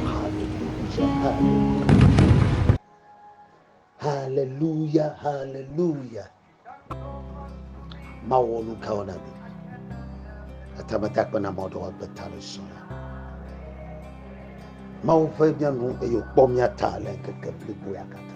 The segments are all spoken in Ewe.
Hallelujah, hallelujah. Hallelujah, hallelujah. Ma wɔ nu kawo na mi. Atamata kpe na mɔ ɖewo agbe ta le sɔ la. Mawu ƒe mía nu eye wòkpɔ mía ta le ŋkeke blibo ya katã.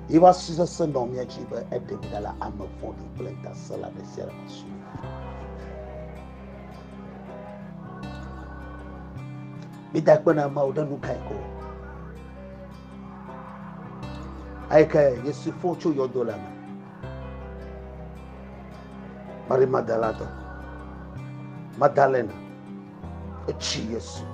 Yi va si sese nɔ mía dzi be eɖe mi ɖa le ame vɔ̃ɖi kple ŋutasẽla ɖe sia ɖe me su. Mida kpe na Mawu ɖe nu kae ko? Eyi ke Yesu fɔ tso yɔdo la me. Mari Magdalatɔ, Magdalena, etsi Yesu.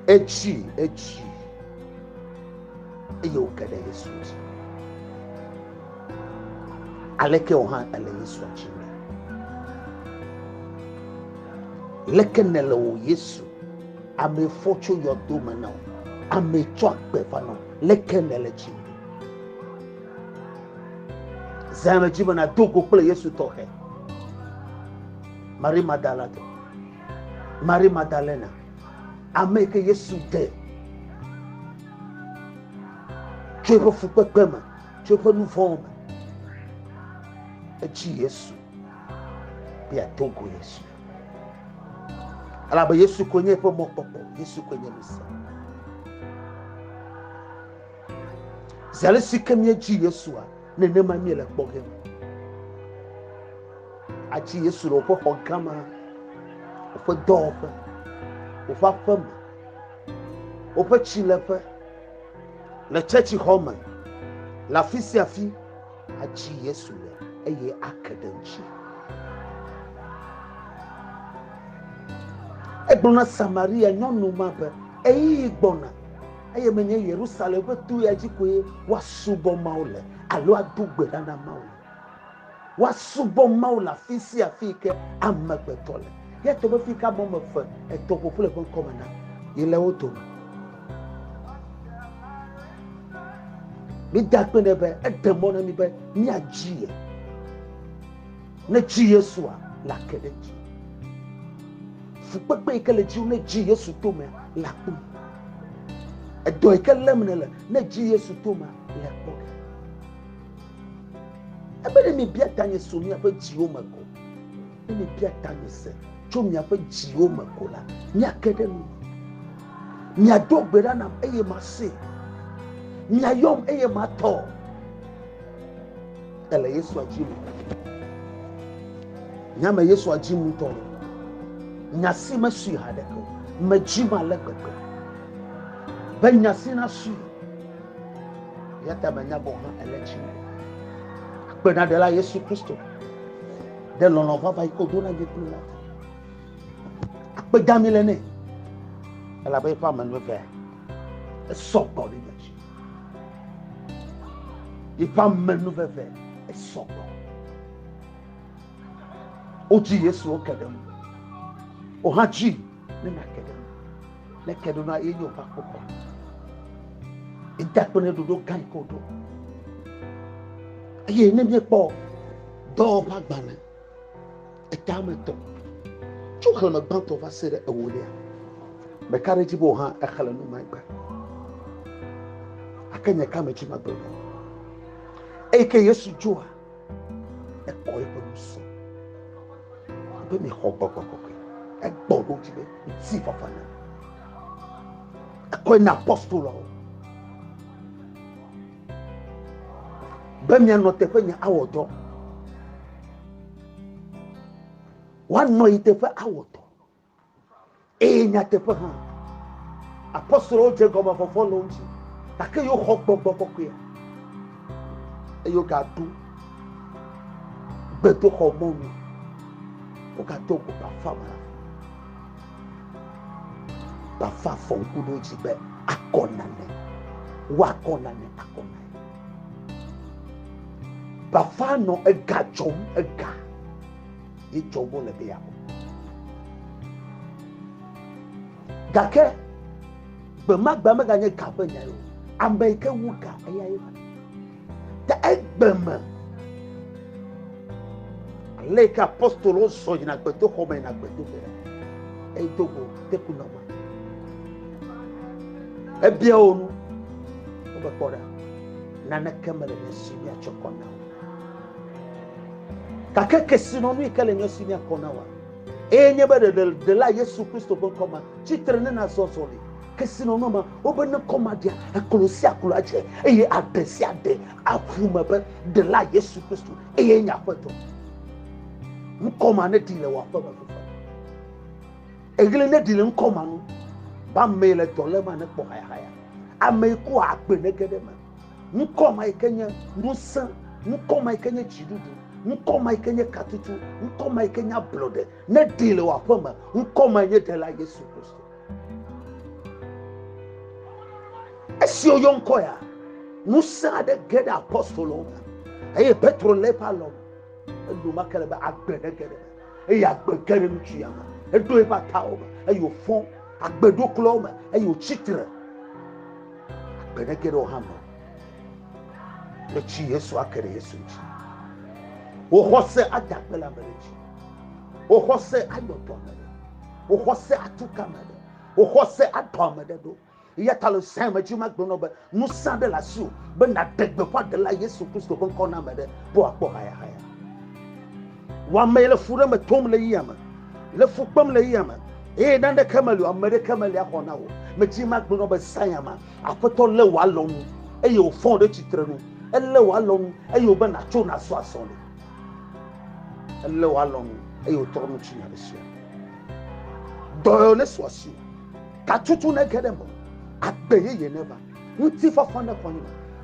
Etsi, etsi. Eye wòke ɖe Yesu dzi. Aleke wò hã èle Yesua dzim le? Leke nèle wò Yesu, ame fɔ tso yɔdo me na wò, ame tsɔ agbe va na wò, leke nèle dzim? Zã le dzi me nàdo go kple Yesu tɔxɛ. Marie Magdalatɔ, Marie Magdalena, ame ke Yesu de tso eƒe fukpekpe me tso eƒe nu vɔ̃wo me. Etsi Yesu be yeado go Yesu. Elabe Yesu koe nye eƒe mɔkpɔkpɔ, Yesu koe nye Mesia. Zi ale si ke míedzi Yesua, nenema míele kpɔ ge. Atsi Yesu le woƒe xɔ gã ma, woƒe dɔwɔƒe, woƒe aƒeme, woƒe tsileƒe, Le tsetsixɔ me, le afi sia afi, adzi Yesu le eye ake ɖe ŋuti. Egblɔ na Samaria nyɔnu ma be, Ɣeyiɣi gbɔna eye menye Yerusalem ƒe to ya dzi koe woasubɔ Mawu le alo ado gbe ɖa na Mawu le. Woasubɔ Mawu le afi sia afi yi ke amegbetɔ le. Eya ta be fi yi ke ame wɔme eve, etɔ̃ ƒo ƒu le eƒe ŋkɔ me na, yele wo dome. Mide akpe nɛ be eɖe mɔ na mí be míadzi ye. Ne dzi Yesua le ake ɖe dzi. Fukpekpe yi ke le dzi ne dzi Yesu to me le akpɔ. Edɔ yi ke lém nele ne dzi Yesu to me le kpɔ. Ebe ne mibia tanye so miaƒe dziwo me ko. Ne mibia tanye se tso miaƒe dziwo me ko la, miake ɖe nu. Miado gbe ɖa nam eye mase. Miayɔm eye matɔ. Ele Yesu adzim. Nyame Yesu adzim ŋutɔ. Nya si mesui haɖeke o. Medzim ale gbegbe. Be nya si nasui. Eya ta menya gɔ̃ hã ele tsi me. Akpenaɖela Yesu Kristo ɖe lɔlɔ̃ vava yi ke wòdo na nyekplu la ta. Akpe dami le nɛ. Elabe eƒe ame evea esɔ gbɔ ɖe nye dzi. Eƒe ame evea esɔ gbɔ. Wodzi Yesu wo ke ɖe ŋu. Wohã dzi. ne nake ɖe ŋu ne ke ɖo na ye nye woƒe akpɔkpɔ eda kple ne ɖoɖo gã yi ke woɖo eye ne míekpɔ dɔwɔƒe agbalẽ eta me tɔ tso xexlẽme gbãtɔ va se ɖe ewolia meka ɖe edzi be hã exlẽ nu magbe ake nye ka me dzi magbe eyi ke yesu dzoa Ekɔ eƒe nu se be mexɔ gbɔgbɔ kɔkɔe. Egbɔ ɖo dzi be ŋuti fafa na. Ekɔe na apostoloawo be mianɔ teƒe nye awɔ dɔ. Woanɔ yi teƒe awɔ dɔ. Eye nyateƒe hã, apostolowo dze gɔme vɔvɔ le wo ŋuti, gake yewo xɔ gbɔgbɔ kɔkɔea, eye wogaɖo gbedoxɔ mɔnu, wogato go bafa me, bafa fɔ ŋku ɖe wo dzi be akɔ nane, woakɔ nane akɔ nane. Bafa nɔ ega dzɔm, ega. ye tsɔ gbɔ le be yeaku. Gake gbe ma gbe meganye ga ƒe nyae o. Ame yi ke wu ga eya ye va. Ta egbe me ale yi ke apostolowo zɔ yina gbedoxɔ me yina gbedoƒe la edo go teku nɔ me. Ebia wo nu wobekpɔ ɖa naneke mele ne si miatsɔ kɔ na o. Gake kesinɔnu yi ke le nye si nye kɔ na wòa, eye nye be ɖeɖedela Yesu Kristo ƒe ŋkɔ ma tsi tre ne nazɔ azɔli. Kesinɔnua ma, wobe ne kɔ ma ɖia, eklo sia klo adze, eye aɖe sia aɖe aʋu eme be Ɖela Yesu Kristo eye nye Aƒetɔ. Ŋkɔ ma neɖi le wò aƒe me fifia. Eɣli neɖi le ŋkɔ ma nu, be ame yi le dɔ lém anekpɔ hayahaya, ame yi kua agbe nege ɖe eme. ŋkɔ ma yi ke nye ŋusẽ, ŋkɔ ma yi ke nye dziɖuɖu, ŋkɔ ma yi ke nye katutu, ŋkɔ ma yi ke nye ablɔɖe, ne ɖee le wò aƒe me, ŋkɔ ma nye Ɖela Yesu Kristo. Esi woyɔ ŋkɔ ya, ŋusẽ aɖe ge ɖe apostolowo me eye Petro lé eƒe alɔ me. Enumake le be agbe ne ge ɖe me eye agbe ge ɖe ŋutsu ya me. Eɖo eƒe atawo me eye wòfɔ agbe ɖo klɔ me eye wòtsi tre. Gbe ne geɖewo hã me le tsi Yesu ake ɖe Yesu ŋuti. Wò xɔse ada akpe le ame ɖe dzi. Wò xɔse ayɔ dɔ ame ɖe. Wò xɔse atu ka ame ɖe. Wò xɔse adɔ ame ɖe ɖo. Eya ta le Zion me dzi magblɔ nɔ be ŋusẽ aɖe le asiwò be nàɖe gbeƒã ɖela Yesu Kristo ƒe ŋkɔ na ame ɖe be wòakpɔ hayahaya. Wamee le fu ɖe me tom le yia me, le fu kpem le yia me, eye naneke meli o, ame ɖeke meli axɔ na wò. Medzi magblɔ be Zion ma, Aƒetɔ lé wò alɔ nu, eye wòfɔ wò ɖe tsitre nu. Elé wò alɔ nu, eye wòbe nàtso nàzɔ azɔli. Elé wò alɔ nu, eye wòtrɔ nu tsi nya ɖe sia. Dɔyɔ nesu asi, katutu nege ɖe me, agbe yeye neva. Ŋutifafa nexɔ nye.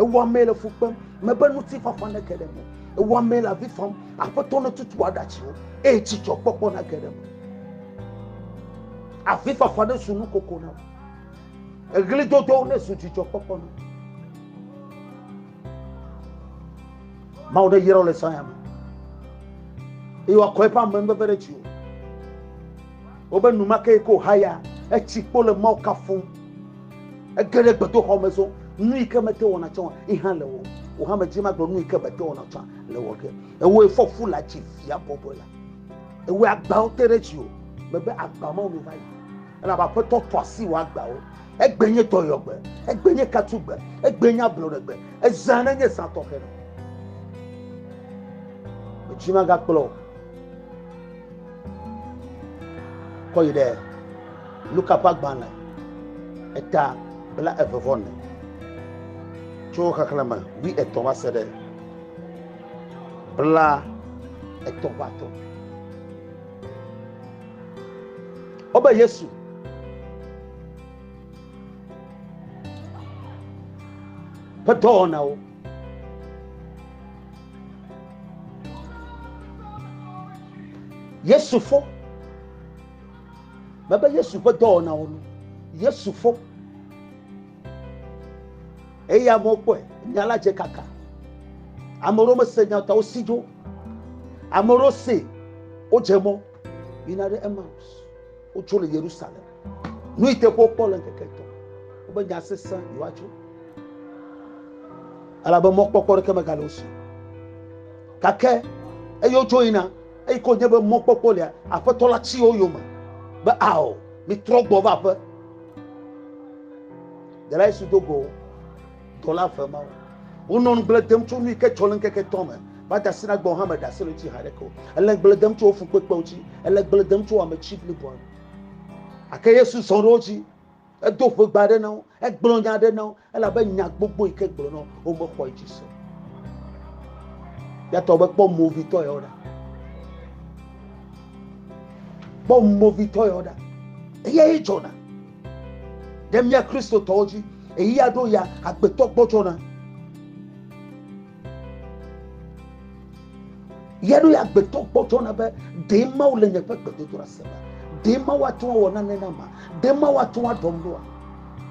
Ewɔamee le fu kpem, mebe ŋutifafa nege ɖe me. Ewɔamee le avi fam, Aƒetɔ netutu aɖatsiwo, eye dzidzɔkpɔkpɔ nage ɖe me. Avifafa nezu nukoko nam, eɣlidodo nezu dzidzɔkpɔkpɔ nam. Mawu neyra wò le Zion me, eye wòakɔ eƒe amenuveve ɖe dziwò. Wobe nu ma ke ko haya etsi kpo le Mawu kafum. Ege ɖe gbedoxɔ me zɔ nu yi ke mete wɔna tsã yi hã le wɔ. Wò hã medzi magblɔ nu yi ke mete wɔna tsã le wɔ ke. Ewɔe fɔ fu le atsi via bɔbɔe la. Ewɔe agbawo te ɖe dziwò. Mebe agba mawo mi va yi. Elabe Aƒetɔ tɔ asi wò agbawo. Egbe nye dɔyɔgbe, egbe nye katugbe, egbe nye ablɔɖegbe, ezã ɖe nye zã tɔxɛ ɖe. Medzi magakplɔ o. Kɔ yi ɖe Luka ƒe agbalẽ eta bla eve vɔ ne tso xexlẽme wi etɔ̃ va se ɖe bla etɔ̃ va tɔ. Wobe Yesu ƒe dɔwɔnawo. yesu fo mebe yesu ƒe dɔwɔnawo nu yesu fo eye amewo kpɔe nya la dze kaka ame ɖewo mese nya ta wosi dzo ame ɖewo se wodze mɔ yina ɖe emaus wotso le yerusalem Nu yi teƒe wokpɔ le ŋkeke etɔ̃ wobe nya sesẽ yewoatso elabe mɔkpɔkpɔ ɖeke megale wo si gake eye wotso yina eyi ko nye be mɔkpɔkpɔ lia aƒetɔ la tsi wo yome be ao mitrɔ gbɔ va aƒe dela yesu do go dɔla eve mawo wonɔ nugble dem tso nu yi ke tsɔ le ŋkeke tɔ me va da asi na gbɔ hã me da asi le tsi haɖeke o ele gble dem tso wo fukpekpewo tsi ele gble dem tso ame tsi bliboa Ake Yesu zɔ ɖe wo dzi. Edo ƒegba aɖe na wo. Egblɔ nya aɖe na wo. Elabe nya gbogbo yi ke gblɔ na wo, womexɔe dzi se. Yatɔ be kpɔ movitɔ yawo ɖa. Kpɔ movitɔ yawo ɖa. Eya ye dzɔna. Ɖe mía Kristotɔwo dzi. Eyi ya ɖo ya agbetɔ gbɔdzɔna. Ya ɖo ya gbetɔ kpɔtɔ na be ɖe Mawu le nye ƒe gbedodoɖa se ma, ɖe Mawu ate ŋu awɔ nane na ma, ɖe Mawu ate ŋu aɖɔm ɖoa.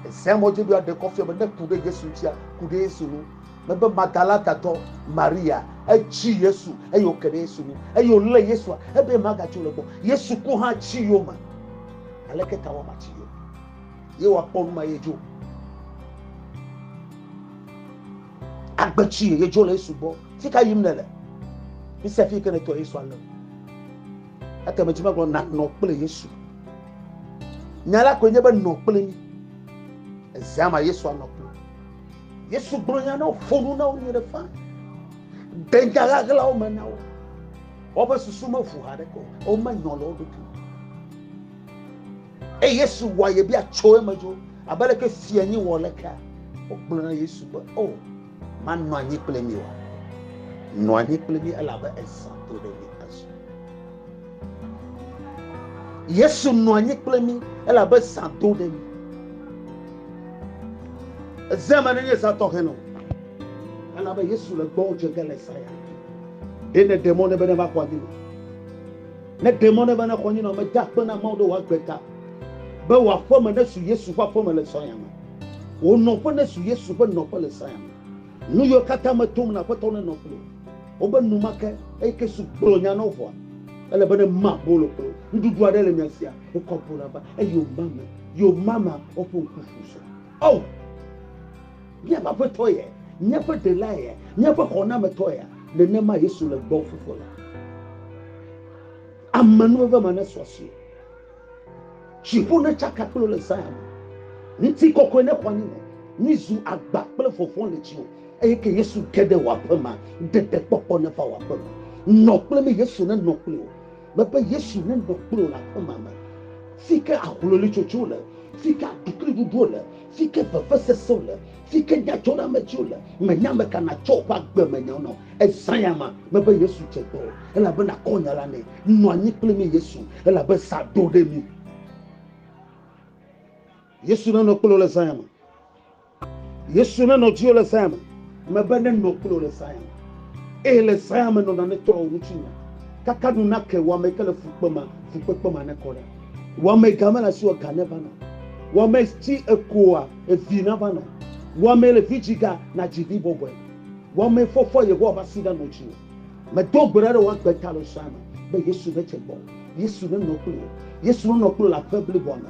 Ezea mɔ dzi ɖoa ɖe kɔ fia be ne ku ɖe Yesu ŋutia, ku ɖe Yesu ŋu. Mebe Magdalatatɔ Maria etsi Yesu eye wòke ɖe Yesu ŋu eye wòlé Yesua ebe magatsi o le gbɔ. Yesu ku hã tsi yome. Aleke ta wɔ matsi yome? Ye wòakpɔ nu ma ye dzo. Agbe tsi ye dzo le Yesu gbɔ. Fi ka yim nèle? Mise fi yi ke nètɔ Yesu ale o. Ete me dzi megblɔ nanɔ kple Yesu. Nya la koe nye be nɔ kple mí. Ezea ma Yesu anɔ kple wo. Yesu gblɔ nya na wo, ƒo nu na wo nyuie ɖe faa. De nya ɣaɣlawo me na wo. Woƒe susu meʋu haɖeke o. Womenyɔ le wo ɖokui. Eye Yesu wɔa ye bia tso eme dzo, abe leke fia nyi wɔ lekea. Wogblɔ na Yesu be, O, oh, manɔ anyi kple mi wa. Nɔ anyi kple mi elabe ezã to ɖe mi azɔ. Yesu nɔ anyi kple mi elabe zã do ɖe mi. Eze me nenye zã tɔxɛ nɔ. Elabe Yesu le gbɔ dze ge le zã ya. Ɖe ne ɖe mɔ ne be ne va xɔ anyi me. Ne ɖe mɔ ne bene xɔ nyinɔ me da kpe na Mawu ɖe wòagbe ta be wò aƒe me nesu Yesu ƒe aƒe me le sɔya me. Wò nɔƒe nesu Yesu ƒe nɔƒe le sɔya me. Nu yiwo katã me tom na Aƒetɔ ne nɔ kpli wò be nu ma ke eye ke su gblɔ nya nɔ vɔa. Ele be ne ma bolo kpli wò. Nuɖuɖu aɖe le mia sia wokɔ bona va eye woma me. Yoma mea woƒe ŋku ƒu sɔ. Oh! Míaƒe Aƒetɔ ye, míaƒe Ɖela ye, míaƒe Xɔnametɔ ye. Nenema Yesu le gbɔ fofo la. Amenuveve ma nesu asi. Dziƒo netsaka kple le Zion. Ŋuti kɔkɔe nexɔ anyi me. Mizu agba kple vɔvɔ̃ le dziwò. Eye ke Yesu ge ɖe wò aƒe ma, ɖeɖekpɔkpɔ neva wò aƒe me. Nɔ kple mí, Yesu nenɔ kple wò. Mebe Yesu nenɔ kple wò le aƒema me, fi ke ahlolitsotso le, fi ke aɖukliɖuɖuwo le, fi ke vevesesewo le, fi ke nyadzɔɖeamedziwo le. Mènya ame ka nàtsɔ wò ƒe agbemenyawo na o. Ezã ya ma, mebe Yesu dze gbɔ o, elabe nàkɔ nya la nɛ. Nɔ anyi kple mí, Yesu, elabe zã ɖo ɖe mí. Yesu nenɔ kple wò le zã ya me. Yesu nenɔ dziwò le Zion me. Mebe nenɔ kple wò le Zion me. Eye le Zion me nɔ nanetɔ wò ŋutinya. Kaka nu nake wò ameyike le fukpe me, fukpekpe ma nekɔ ɖa. Wò ameye ga mele asiwò ga neva nɔ. Wò amesi èkoa vi nava nɔ. Wò ameye le vi dzi ga nadzi vi bɔbɔe. Wò ameye fɔfɔ Yehowa ƒe asi ɖa nɔ dziwò. Medo gbe ɖa ɖe wò agbe ta le Zion me be Yesu nedze gbɔwò. Yesu nenɔ kple wò. Yesu nenɔ kple wò le aƒe bliboa me.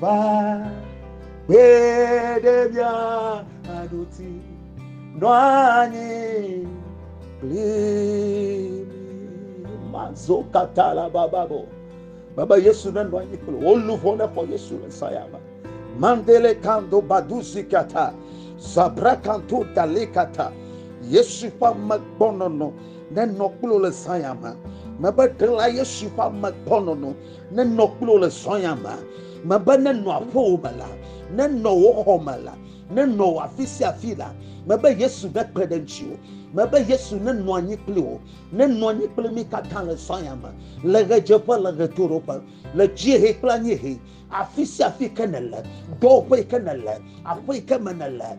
Va kpe ɖe mía aɖuti nɔ anyi kpli mazo katã la bababo. Baba Yesu ne nɔ anyi kpli wo luʋɔ ne xɔ Yesu le saya me. Mandele kando baduzi kata zabra kanto dale kata. Yesu ƒe amegbɔnɔnɔ nenɔ kpli le saya me. Mebe ɖela Yesu ƒe amegbɔnɔnɔ nenɔ kple wò le srɔ̃ya me mebe nenɔ aƒewò me la nenɔ wò xɔ me la nenɔ wò afi sia afi la mebe yesu nekpe ɖe ŋutiwò mebe yesu nenɔ anyi kple wò nenɔ anyi kple mi katã le srɔ̃ya me le ɣedzeƒe le ɣetoɖoƒe le dziehe kple anyiehe afi sia afi ke nele dɔwɔƒe yi ke nele aƒe yi ke me nele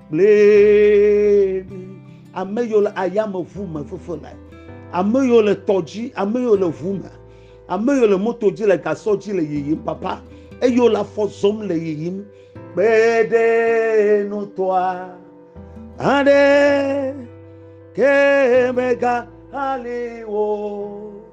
kplee ame yiwo le ayameʋu me fefe le ame yiwo le tɔ dzi ame yiwo le ʋu me ame yiwo le moto dzi le gasɔ dzi le yiyim papa eye wole afɔ zɔm le yiyim kpe ɖe nutɔa aɖe ke mega ali wo